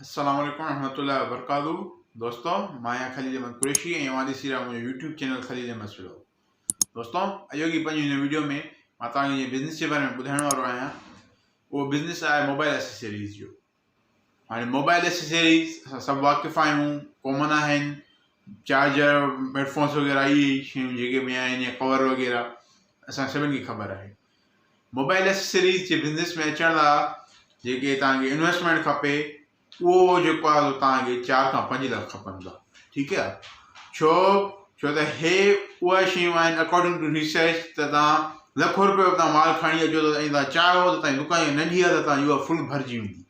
السلام عليڪم ورحمة الله وبرڪاته دوستو مان آهيان خليل احمد قريشي ۽ اوهان ڏسي رهيا منهنجو يوٽيوب چينل خليل احمد سلو دوستو اڄو کي پنهنجي هن ويڊيو ۾ مان توهان کي بزنس جي باري ۾ ٻڌائڻ وارو آهيان اهو بزنس آهي موبائل اسيسريز جو هاڻي موبائل اسيسريز اسان سڀ واقف آهيون ڪامن آهن چارجر هيڊفونس وغيرہ اهي شيون جيڪي بي آهن يا ڪور وغيرہ اسان سڀني کي خبر آهي موبائل ايسيسريز جي بزنس ۾ اچڻ لاء جيڪي تانکي انويسٽمينٽ کپي اهو جيڪو آهي تانکي چار کان پنج لک کپندا ٺيڪ آهي ڇو ڇو ته هي اهي شيون آهن اڪارڊنگ ٽو ريسرچ ته تان لکو روپيو تان مال کڻي اچو ته ائين تان چار هو تان دڪان جي ننڍي هٿ تان يوه فل ڀرجي ويندي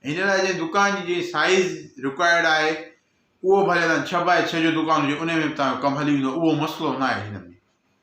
ان لاء جي دڪان جي جي سائز رڪوائرڊ آهي اهو ڀلي تان ڇهه باء ڇهه جو دڪان جي ان ۾ تان ڪم هلي ويندو اهو مسئلو نه آهي هن ۾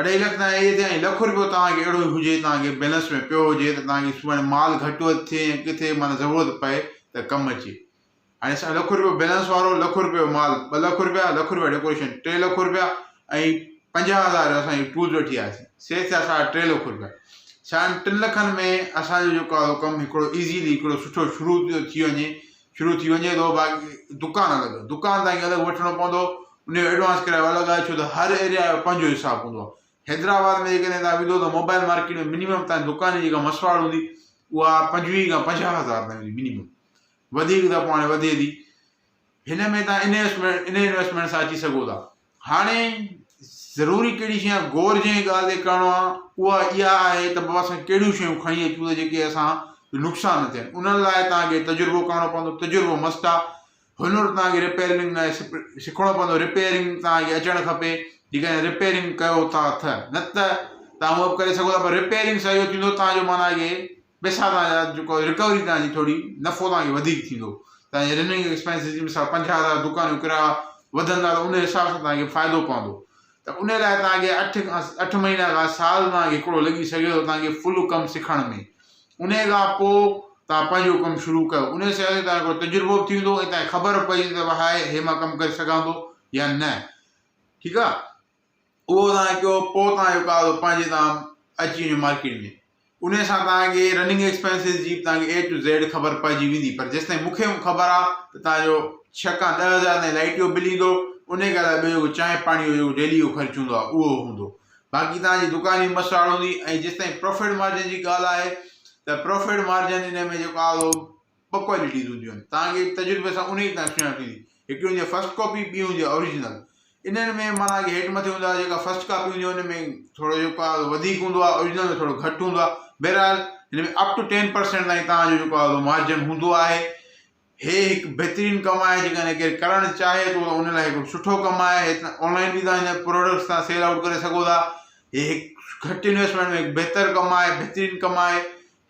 اڍائي لک تائين اهي ٿيا ۽ لک رپيو توهان کي اهڙو هجي توهان کي بيلنس ۾ پيو هجي ته توهان کي سڀاڻي مال گهٽ وڌ ٿئي ۽ ڪٿي معنيٰ ضرورت پئي ته ڪم اچي. هاڻي اسان لک رپيو بيلنس وارو، لک رپيو مال، ٻه لک رپيا، لک رپيا ڊيڪوريشن، ٽي لک رپيا ۽ پنجاهه هزار جو اسان هي ٽولز وٺي آياسين. سي ٿيا ساڍا ٽي لک رپيا. ساڍن ٽن لکن ۾ اسان جو جيڪو آهي اهو ڪم هڪڙو ايزيلي هڪڙو سٺو شروع ٿيو ٿي وڃي شروع ٿي وڃي ٿو باقي دڪان الڳ دڪان تائين الڳ وٺڻو پوندو ان جو ايڊوانس ڪرايو الڳ آهي ڇو ته هر ايريا جو پنهنجو حساب هوندو آهي حيدرآباد ۾ جيڪڏهن تان ويندو ته موبائل مارڪيٽ ۾ منيمم تان دڪان جي جيڪا مسواڙ هوندي اها پنجويهه کان پنجاهه هزار تائين هوندي منيمم وڌيڪ ته پاڻ وڌي ٿي هن ۾ تان انويسٽمينٽ ان انويسٽمينٽ سان اچي سگهو ٿا هاڻي ضروري ڪهڙي شيء آهي، غور جنهن ڳالهه تي ڪرڻو آهي، اها اها آهي ته بابا سائين ڪهڙيون شيون کڻي اچون ته جيڪي اسان جو نقصان نه ٿين. انهن لاء توهان کي تجربو ڪرڻو پوندو، تجربو مست آهي. هنر توهان کي رپيرنگ لاء سکڻو پوندو، رپيرنگ توهان کي اچڻ کپي، جيڪڏهن رپيرنگ ڪيو ٿا ته، نه ته توهان هوء به ڪري سگهو ٿا پر رپيرنگ سان اهو ٿيندو توهان جو معنيٰ اهي پئسا توهان جا جيڪو رڪوري توهان جي ٿوري نفعو توهان کي وڌيڪ ٿيندو توهان جي رننگ ايڪسپينسز جي مثال پنجاهه هزار دڪان جو ڪرايو وڌندا ته ان حساب سان توهان کي فائدو پوندو ته ان لاء توهان کي اٺ کان اٺ مهينا کان سال توهان کي هڪڙو لڳي سگهي ٿو توهان کي فل ڪم سکڻ ۾ ان کان پوء توهان پنهنجو ڪم شروع ڪيو ان سان توهان هڪڙو تجربو به ٿيندو ۽ توهان کي خبر به پوي ته هاء هي مان ڪم ڪري سگهان ٿو يا نه ٺيڪ آ اهو توهان ڪيو پوء توهان جو ڪار اهو پنهنجي تان اچي وڃي مارڪيٽ ۾ انهي سان توهان کي رننگ ايڪسپينسز جي به توهان کي اي ٽو زيڊ خبر پئجي ويندي پر جيستائين مون کي خبر آ ته توهان جو ڇهه کان ڏهه هزار تائين لائٽ جو بل ايندو انهي کان علاوه ٻيو جيڪو چانهه پاڻي جو جيڪو ڊيلي جو خرچ هوندو آ اهو هوندو باقي توهان جي دڪان جي مسراڙ هوندي ۽ جيستائين پروفٽ مارجن جي ڳالهه آهي ته پروفٽ مارجن انهي ۾ جيڪو آ اهو ٻه ڪوالٽيز هونديون آهن توهان کي تجربي سان انهيء تان سڃاڻپ ٿيندي. هڪڙي هوندي آهي فرسٽ ڪاپي ٻي هوندي آهي آريجنل. انهن ۾ معنيٰ ڪي هيٺ مٿي هوندا جيڪا فرسٽ ڪاپي هوندي آهي ان ۾ ٿورو جيڪو آهي وڌيڪ هوندو آهي آريجنل ۾ ٿورو گهٽ هوندو آهي بهرحال هن ۾ اپ ٽو ٽين پرسينٽ تائين توهان جو جيڪو آهي مارجن هوندو آهي هي هڪ بهترين ڪم آهي جيڪڏهن ڪير ڪرڻ چاهي ٿو ته ان لاء هڪڙو سٺو ڪم آهي هي ته آنلائن به توهان هن پروڊڪٽس تان سيل آئوٽ ڪري سگهو ٿا هي هڪ گهٽ انويسٽمينٽ ۾ هڪ بهتر ڪم آهي بهترين ڪم آهي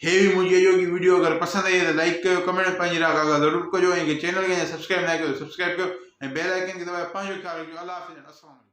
هي هئي منهنجي اڄوڪي وڊيو اگر پسند آئي آهي ته لائيڪ ڪيو ڪمينٽ ۾ پنهنجي راء ڪاڳا ضرور ڪجو ۽ جي چينل کي اڃا سبسڪرائيب ناهي ڪيو ته سبسڪرائيب ڪيو ۽ بيل آئيڪن کي دٻائي پنهنجو خيال رکجو الله حافظ اينڊ السلام عليڪم.